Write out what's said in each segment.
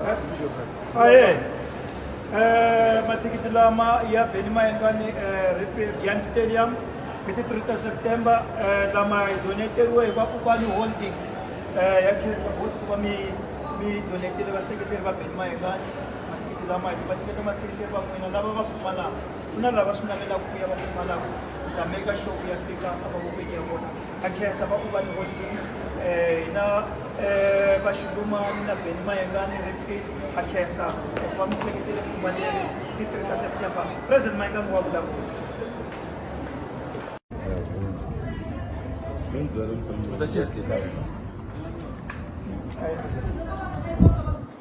aye um mathikithi lama ya beni ma endlani eh, refield yan stadium hi ti 3 ta september eh, lama hi doneteriwe hi vakokwani holdings eh, ya khensa voti ku va mi mi donetele vaseketeri va beni ma engani mathikithi lama hi va nyiketa maseketeri va n'wina lava va pfumalaka ku na lava swi navelaka ku ya va pfumalaka ku ta meka show ya fika a va vokweni ya vona a khensa va ku va ni holidays eh, na eh, va xilumani na beni mayengani refil a khensa eh, va mi seketele kumba leri ti three ta september president mayengani wa vulavula Thank you.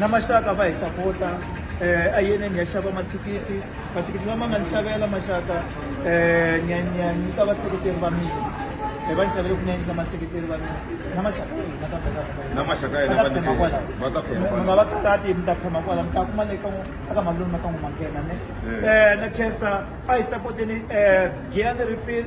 na maxaka va hi sapota eh, a yene ni ya xava mathikithi mathikithi lama nga ni xavela maxaka eh, ni ya ni ya nyika vaseketeri va mina Eh, va ni xavele ku ni ya nyika maseketeri va mina na maxaka ya hina kambe ka- ka- na maxaka ya hina va ta phema kwala. vanike va ta phema Mi kwala nga va karhati mi ta phema kwala mi ta kuma le ka n'wi- eka malume ka n'wi manghena ne Eh. um na khensa a hi sapoteni um giya ni refill